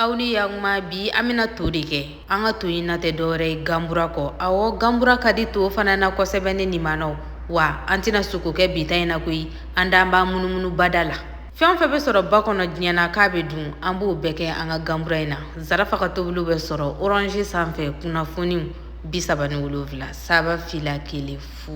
aw ni yakuma bi an bɛna to de kɛ an ka to in na tɛ dɔwɛrɛ ye ganbura kɔ awɔ ganbura ka di to fana na kosɛbɛ ne nin manaw wa an tɛna sogo kɛ bi ta in na koyi an dan b'an munumunu bada la fɛn fɛn bɛ sɔrɔ ba kɔnɔ diɲɛ na k'a bɛ dun an b'o bɛɛ kɛ an ka ganbura in na zarafa ka tobiliw bɛ sɔrɔ orange sanfɛ kunnafoniw bi saba ni wolonwula saba fila kelen fu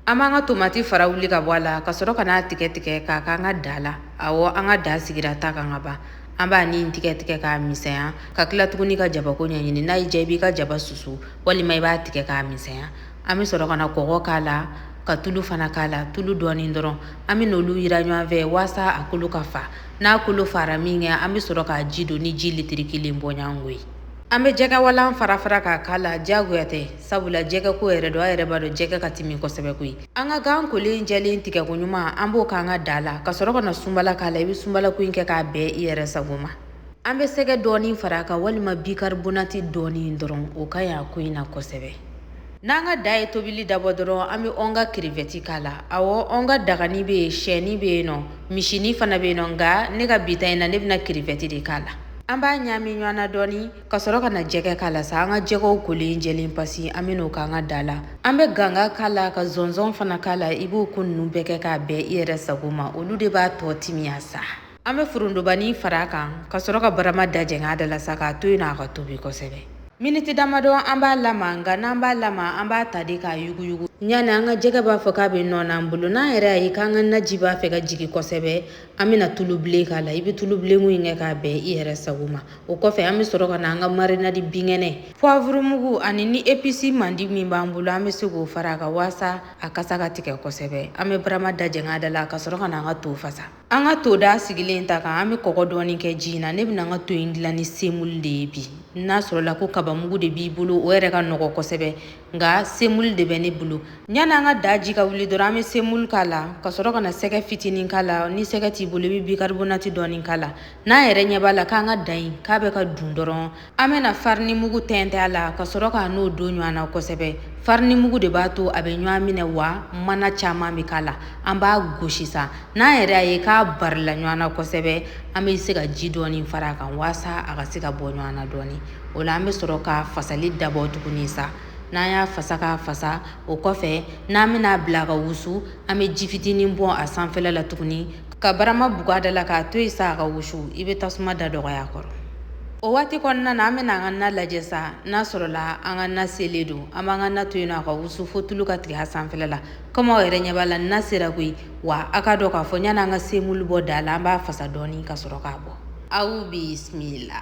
an b'an ka tomati fara wuli ka bɔ a la ka sɔrɔ ka n'a tigɛ tigɛ k'a k'an ka da la awɔ an ka da sigira ta kan ka ban an b'a nin tigɛ tigɛ k'a misɛnya ka tila tuguni ka jabako ɲɛɲini n'a y'i diya i b'i ka jaba susu walima i b'a tigɛ k'a misɛnya an bɛ sɔrɔ ka na kɔgɔ k'a la ka tulu fana k'a la tulu dɔɔni dɔrɔn an bɛ n'olu yiran ɲɔgɔn fɛ waasa a kolo ka fa n'a kolo faara minkɛ an bɛ sɔrɔ k'a ji don ni ji litiri kelen bɔɲɔgɔnko ye An bɛ jɛgɛwalan fara fara k'a k'a la diyagoya tɛ sabula jɛgɛ ko yɛrɛ don a yɛrɛ b'a dɔn jɛgɛ ka timi kosɛbɛ koyi an ka gan kolen jɛlen tigɛko ɲuman an b'o k'an ka da la ka sɔrɔ ka na sunbala k'a la i bɛ sunbala ko in kɛ k'a bɛn i yɛrɛ sago ma an bɛ sɛgɛ dɔɔni fara a kan walima bikaribonati dɔɔni dɔrɔn o ka ɲ'a ko in na kosɛbɛ N'an ka da ye tobili dabɔ dɔrɔn an bɛ an ka kirivɛti k'a la awɔ an ka dagani bɛ yen shɛni bɛ yen nɔ misini fana bɛ yen nɔ nka ne ka bi ta in na ne bɛna kirivɛti de k'a la an b'a ɲami ɲɔgɔn na dɔɔni ka sɔrɔ ka na jɛgɛ k'a la sa an ka jɛgɛw kolen jɛlen pasi an bɛ n'o k'an ka da la an bɛ ganga k'a la ka zɔnzɔn fana k'a la i b'o ko ninnu bɛɛ kɛ k'a bɛn i yɛrɛ sago ma olu de b'a tɔ timiya sa An bɛ forontobani fara a kan ka sɔrɔ ka barama da jɛng'a da la sa k'a to yen n'a ka tobi kosɛbɛ miniti damadɔ an b'a lamaga nka n'an b'a lamaga an b'a ta de k'a yuguyugu yanni an ka jɛgɛ b'a fɔ k'a bɛ nɔɔni an bolo n'an yɛrɛ y'a ye k'an ka naji b'a fɛ ka jigin kosɛbɛ an bɛna tulu bilen k'a la i bɛ tulu bilen ko in kɛ k'a bɛn i yɛrɛ sago ma o kɔfɛ an bɛ sɔrɔ ka na an ka marinadi binkɛnɛ puwavurumugu ani ni episi mandi min b'an bolo an bɛ se k'o fara a kan waasa a kasa ka tigɛ kosɛbɛ an bɛ barama da jɛng'a da la ka sɔrɔ ka na an ka to fasa An ka to da sigilen ta kan an bɛ kɔgɔ dɔɔni kɛ ji in na ne bɛna an ka to in dilan ni semulu de ye bi n'a sɔrɔ la ko kabamugu de b'i bolo o yɛrɛ ka nɔgɔ kosɛbɛ nka semulu de bɛ ne bolo yan an ka da ji ka wuli dɔrɔn an bɛ semulu k'a la ka sɔrɔ ka na sɛgɛ fitinin k'a la ni sɛgɛ t'i bolo i bɛ bikaribonati dɔɔni k'a la n'an yɛrɛ ɲɛ b'a la k'an ka da in k'a bɛ ka dun dɔrɔn An bɛna farini mugu tɛntɛn a la ka sɔrɔ ka n'o don ɲɔgɔn na kosɛbɛ. Farini mugu de b'a to a bɛ ɲɔgɔn minɛ wa mana caman bɛ k'a la. An b'a gosi sa. N'an yɛrɛ y'a ye k'a barila ɲɔgɔn na kosɛbɛ, an bɛ se ka ji dɔɔni fara a kan waasa a ka se ka bɔ ɲɔgɔn na dɔɔni. O la an bɛ sɔrɔ ka fasali dabɔ tuguni sa. N'an y'a fasa k'a fasa, o kɔfɛ n'an bɛna a bila ka wusu, an bɛ ji fitinin bɔn a sanfɛla la tuguni. ka barama buga da la k'a to yen sa a ka wusu i bɛ tasuma da dɔgɔya kɔrɔ o waati kɔnɔna na an bɛna an ka na lajɛ sa n'a sɔrɔla an ka na selen don an b'an ka na to yen a ka wusu fo tulu ka tigɛ a sanfɛla la komi aw yɛrɛ ɲɛ b'a la na sera koyi wa a k'a dɔn k'a fɔ yanni an ka semulu bɔ da la an b'a fasa dɔɔni ka sɔrɔ k'a bɔ aw bisimila